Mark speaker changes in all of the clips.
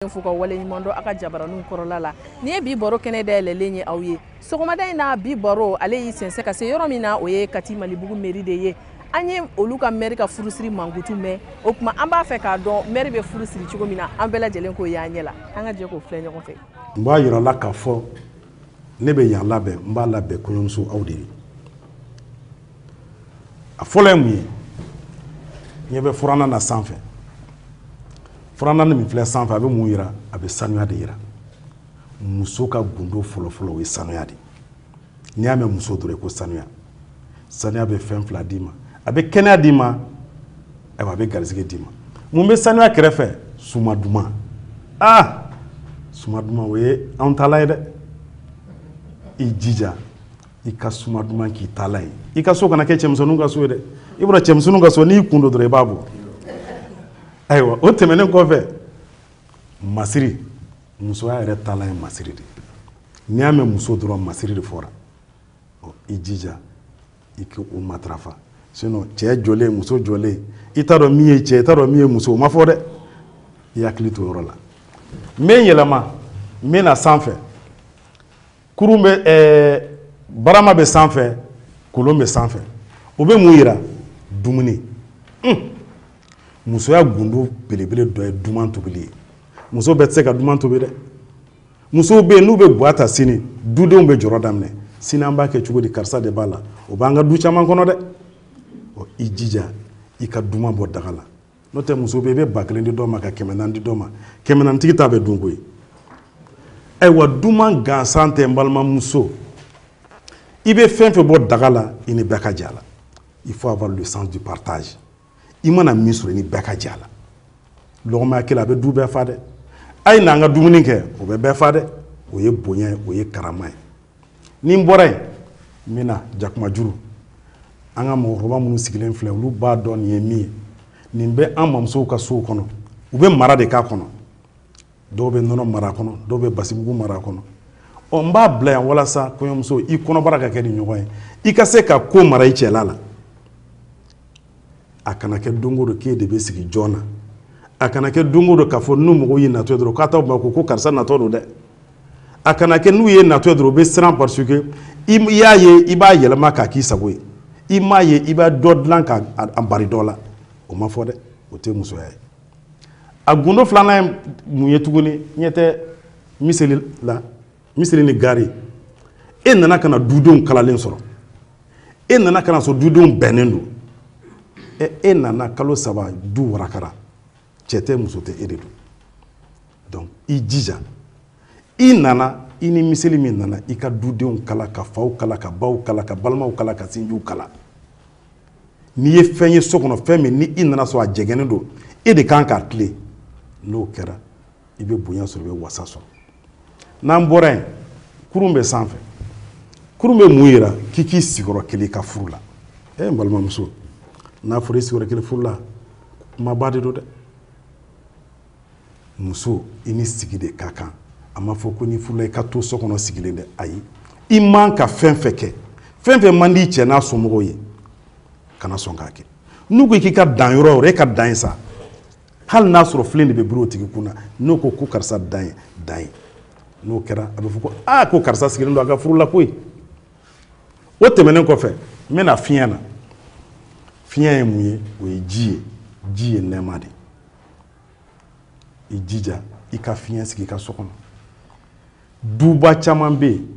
Speaker 1: fo ka waleɲumandɔn aw ka jabaraninw kɔrɔla la nin ye bi baro kɛnɛ dayɛlɛlen ye aw ye sɔgɔmada in na bi baro ale y'i sɛnsɛn ka se yɔrɔ min na o ye kati malibugu mɛri de ye an ye olu ka mɛri ka furusiri mankutu mɛn o tuma an b'a fɛ k'a dɔn mɛri bɛ furu siri cogo min na an bɛɛ lajɛlen k'o y'an ɲɛ la an ka jɛ k'o filɛ ɲɔgɔn fɛ n b'a yira la k'a
Speaker 2: fɔ ne bɛ yan labɛn n b'a labɛn kɔɲɔmuso aw de ye a fɔlɔ ye mun ye ɲɛ bɛ furannan na sanfɛ furannan min filɛ sanfɛ a bɛ mun yira a bɛ sanuya de yira muso ka gundo fɔlɔfɔlɔ o ye sanuya de n'i y'a mɛn muso dɔrɔn ko sanuya sanuya bɛ fɛn fila d'i ma a bɛ kɛnɛya d'i ma ayiwa a bɛ garisɛgɛ d'i ma mun bɛ sanuya kɛrɛfɛ suma duman aa suma duman o ye anw taalan ye dɛ i jija i ka suma duman k'i taalan ye i ka so kana kɛ cɛmisɛnninw ka so ye dɛ i bɔra cɛmisɛnninw ka so n'i kun don dɔrɔn i b'a bɔ ayiwa o tɛmɛnen kɔfɛ masiri musoya yɛrɛ taalan ye masiri de n'i y'a mɛn muso dɔrɔn masiri de fɔra ɔ i jija i k'o matarafa sinon cɛ jɔlen muso jɔlen i t'a dɔn min ye cɛ i t'a dɔn min ye muso o ma fɔ dɛ i hakili to yɔrɔ la n bɛ n yɛlɛma n bɛ na sanfɛ kurun bɛ ɛɛ barama bɛ sanfɛ kolon bɛ sanfɛ o bɛ mun yira dumuni un musoya gundo belebele dɔ ye duman tobili ye muso bɛɛ tɛ se ka duman tobi dɛ musow bɛ yen n'u bɛ gwa ta sini dudenw bɛ jɔrɔ daminɛ sini an b'a kɛ cogo di karisa de b'a la o b'an ka du caman kɔnɔ dɛ ɔ i jija i ka duman bɔ daga la n'o tɛ muso bɛ yen i bɛ ba kelen di dɔ ma ka kɛmɛ naani di dɔ ma kɛmɛ naani tigi ta bɛ dun koyi ayiwa duman gansan tɛ n balimamuso i bɛ fɛn fɛn bɔ daga la i ni bɛɛ ka jɛ a la il faut avoir le sens du partage i mana min sɔrɔ i ni bɛɛ ka jɛ a la lɔgɔma ɲɛ kelen a bɛ du bɛɛ fa dɛ a ye n'an ka dumuni kɛ o bɛ bɛɛ fa dɛ o ye bonya ye o ye karama ye ni n bɔra yen n bɛ na jakumajuru an ka mɔgɔkɔrɔba minnu sigilen filɛ olu b'a dɔn nin ye min ye nin bɛ an mamusow ka sow kɔnɔ u bɛ mara de k'a kɔnɔ dɔw bɛ nɔnɔ mara a kɔnɔ dɔw bɛ basimugu mara a kɔnɔ ɔ n b'a bila yan walasa kɔɲɔmuso i kɔnɔbara ka kɛ nin ɲɔgɔn ye i ka se ka ko mara i cɛla la a kana kɛ don o don k'e de bɛ sigi jɔn na a kana kɛ don o don k'a fɔ n'u mɔgɔw y'i natɔ ye dɔrɔn k'a t'aw makun ko karisa natɔ don dɛ a kana kɛ n'u y'i natɔ ye dɔrɔn u bɛ siran parce que i y'a ye i b'a yɛlɛma k'a k'i sago ye i m'a ye i b'a dɔ dilan k'a bari dɔ la o ma fɔ dɛ o tɛ musoya ye a gundo filanan ye mun ye tuguni ɲɛ tɛ miseli la miseli ni gari e nana ka na dudenw kalalen sɔrɔ e nana ka na sɔrɔ dudenw bɛnnen don ɛ e nana kalo saba du warakara cɛ tɛ muso tɛ e de don donc i jija i nana i ni miseli min nana i ka dudenw kala ka faw kala ka baw kala ka balimaw kala ka sinjiw kala n'i ye fɛn ye so kɔnɔ fɛn min ni i nana sɔrɔ a jɛgɛnnen don e de kan k'a tilen n'o kɛra i bɛ bonya sɔrɔ i bɛ wasa sɔrɔ n'an bɔra yen kurun bɛ sanfɛ kurun bɛ mun yira k'i k'i sigi yɔrɔ kelen i ka furu la e n balimamuso n'a fɔra i sigi yɔrɔ kelen furu la kumaba de don dɛ muso i ni sigi de ka kan a ma fɔ ko n'i furula i ka to so kɔnɔ sigilen dɛ ayi i man ka fɛn fɛn kɛ fɛn fɛn man di i cɛ n'a somɔgɔw ye kana sɔn k'a kɛ n'u ko k'i ka dan yɔrɔ o yɔrɔ e ka dan yen sa hali n'a sɔrɔ filen de bɛ biri o tigi kun na n'o ko ko karisa dan yen dan yen n'o kɛra a bɛ fɔ ko aa ko karisa sigilen don a ka furu la koyi o tɛmɛnen kɔfɛ n bɛna fiɲɛ na fiɲɛ ye mun ye o ye ji ye ji ye nɛɛma de ye i jija i ka fiɲɛ sigi i ka so kɔnɔ duba caman bɛ yen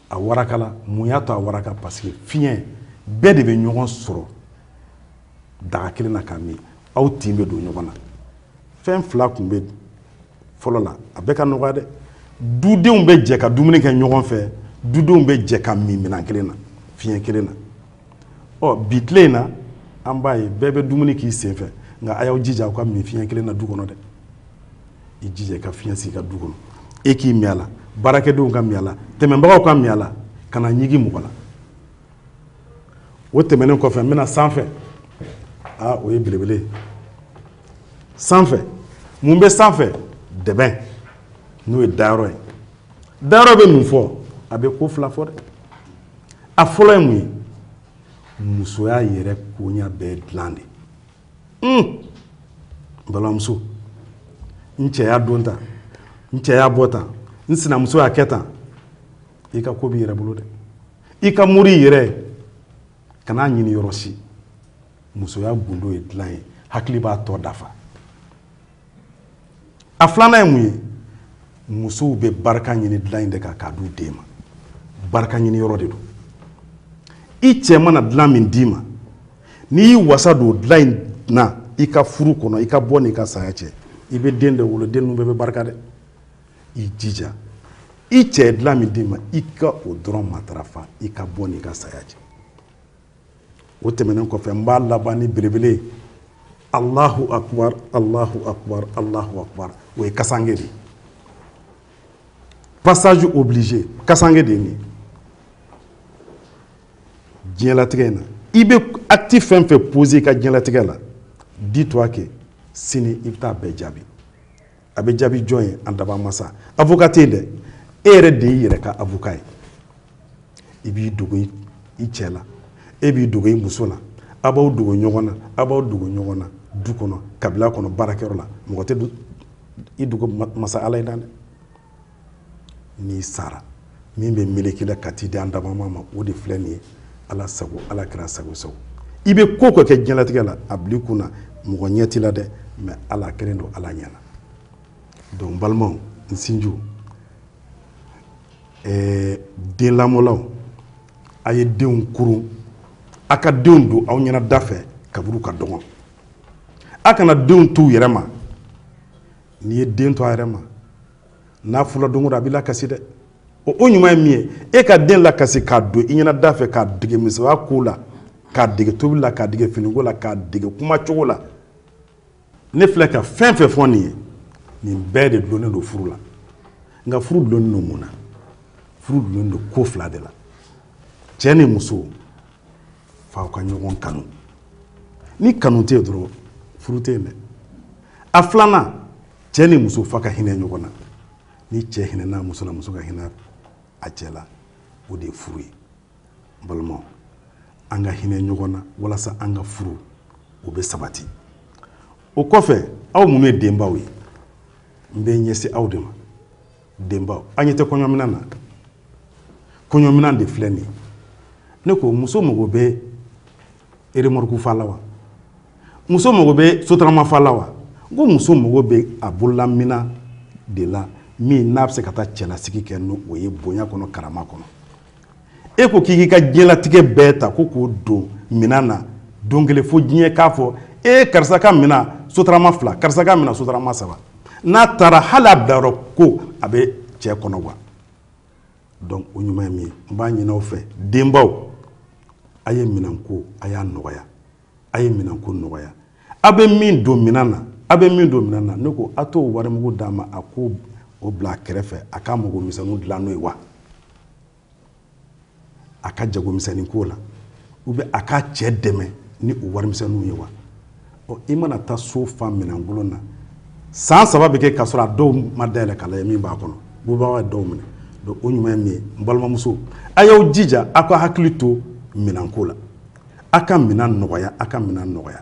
Speaker 2: a warakala mun y'a to a waraka parce que fiɲɛ bɛɛ de bɛ ɲɔgɔn sɔrɔ daga kelen na ka min aw tin bɛ don ɲɔgɔn na fɛn fila tun bɛ fɔlɔ la a bɛɛ ka nɔgɔya dɛ dudenw bɛ jɛ ka dumuni kɛ ɲɔgɔn fɛ dudenw bɛ jɛ ka min minɛn kelen na fiɲɛ kelen na ɔ bi tile in na an b'a ye bɛɛ bɛ dumuni k'i sen fɛ nka a y'aw jija aw ka min fiɲɛ kelen na du kɔnɔ dɛ i jija i ka fiɲɛ sigi i ka du kɔnɔ e k'i min a la baarakɛdenw ka min a la tɛmɛbagaw ka min a la kana ɲigin mɔgɔ la o tɛmɛnen kɔfɛ n bɛna sanfɛ aa o ye belebele sanfɛ mun bɛ sanfɛ dɛbɛn n'o ye dayɔrɔ ye dayɔrɔ bɛ mun fɔ a bɛ ko fila fɔ dɛ a fɔlɔ ye mun ye musoya yɛrɛ koɲa bɛɛ dilan de balimamuso n cɛ y'a don tan n cɛ y'a bɔ tan n sinamuso y'a kɛ tan i ka ko b'i yɛrɛ bolo dɛ i ka mori i yɛrɛ kan'a ɲini yɔrɔ si musoya gundo ye dilan ye hakili b'a tɔ dafa a filanan ye mun ye musow bɛ barika ɲini dilan in de kan k'a d'u den ma barika ɲini yɔrɔ de don i cɛ mana dilan min d'i ma n'i y'i wasa don dilan in na i ka furu kɔnɔ i ka bɔ n'i ka saya cɛ i bɛ den de wolo den ninnu bɛɛ bɛ barika dɛ i jija i cɛ ye dilan min d'i ma i ka o dɔrɔn matarafa i ka bɔ n'i ka saya cɛ o tɛmɛnen kɔfɛ n b'a laban ni belebele ye alahu akubar alahu akubar alahu akubar o ye kasange de ye passage obligé kasange de ye nin ye diɲɛlatigɛ in na i bɛ acte fɛn fɛn poser i ka diɲɛlatigɛ la dis toi que sini i bɛ taa bɛɛ jaabi a bɛ jaabi jɔn ye an dabaa masa avocat tɛ yen dɛ e yɛrɛ de y'i yɛrɛ ka avocat ye i b'i dogo i cɛ la e b'i dogo i muso la a b'aw dogo ɲɔgɔn na a b'aw dogo ɲɔgɔn na du kɔnɔ kabila kɔnɔ baarakɛyɔrɔ la mɔgɔ tɛ i dogo masa ala in na dɛ n'i sara min bɛ melek'i la ka t'i di an dabaa maa ma o de filɛ nin ye ala sago ala kɛra sago sago i bɛ ko ko kɛ diɲɛlatigɛ la a bil'i kun na mɔgɔ ɲɛ t'i la dɛ mais ala kɛlen don ala ɲɛna donc n balimaw n sinjiw den lamɔlaw a ye denw kurun a ka denw don aw ɲɛna da fɛ kabiri u ka dɔgɔn a kana denw t'u yɛrɛ ma n'i ye den to a yɛrɛ ma n'a furula don o don a b'i lakasi dɛ o o ɲuman ye min ye e ka den lakasi k'a don i ɲɛna da fɛ k'a dege musoya ko la k'a dege tobili la k'a dege finiko la k'a dege kuma cogo la ne filɛ ka fɛn fɛn fɔ nin ye nin bɛɛ de dulonnen don furu la nka furu dulonnen don mun na furu dulonnen don ko fila de la cɛ ni muso f'aw ka ɲɔgɔn kanu ni kanu tɛ yen dɔrɔn furu tɛ yen dɛ a filanan cɛ ni muso f'a ka hinɛ ɲɔgɔn na ni cɛ hinɛna muso la muso ka hinɛ a cɛ la o de ye furu ye n balimaw an ka hinɛ ɲɔgɔn na walasa an ka furuw bɛ sabati o kɔfɛ aw minnu ye denbaw ye n bɛ ɲɛsin aw de ma denbaw an ɲɛ tɛ kɔɲɔminan na kɔɲɔminan de filɛ nin ye ne ko muso mago bɛ eremɔruku fa la wa muso mago bɛ sotarama fa la wa n ko muso mago bɛ a bololaminan de la min n'a bɛ se ka taa cɛlasigi kɛ n'o o ye bonya kɔnɔ karama kɔnɔ e ko k'i k'i ka diɲɛlatigɛ bɛɛ ta ko k'o don minan na don kelen fo diɲɛ k'a fɔ e karisa ka minan sotarama fila karisa ka minan sotarama saba n'a taara hali a bilayɔrɔ ko a bɛ cɛ kɔnɔ wa dɔnku o ɲuman ye min ye n b'a ɲin'aw fɛ denbaw a ye minanko a y'a nɔgɔya a ye minanko nɔgɔya a bɛ min don minan na a bɛ min don minan na ne ko a t'o warimugu d'a ma a k'o bila a kɛrɛfɛ a ka mago misɛnninw dilan n'o ye wa a ka jagomisɛnnin ko la ou bien a ka cɛ dɛmɛ ni o warimisɛnninw ye wa ɔ i mana taa so fa minɛnkolon na san saba bɛ kɛ k'a sɔrɔ a dɔw ma dayɛlɛ k'a lajɛ min b'a kɔnɔ bubaga ye dɔw minɛ donc o ɲuman ye min ye n balimamusow a y'aw jija aw ka hakili to minɛnko la aw ka minɛn nɔgɔya aw ka minɛn nɔgɔya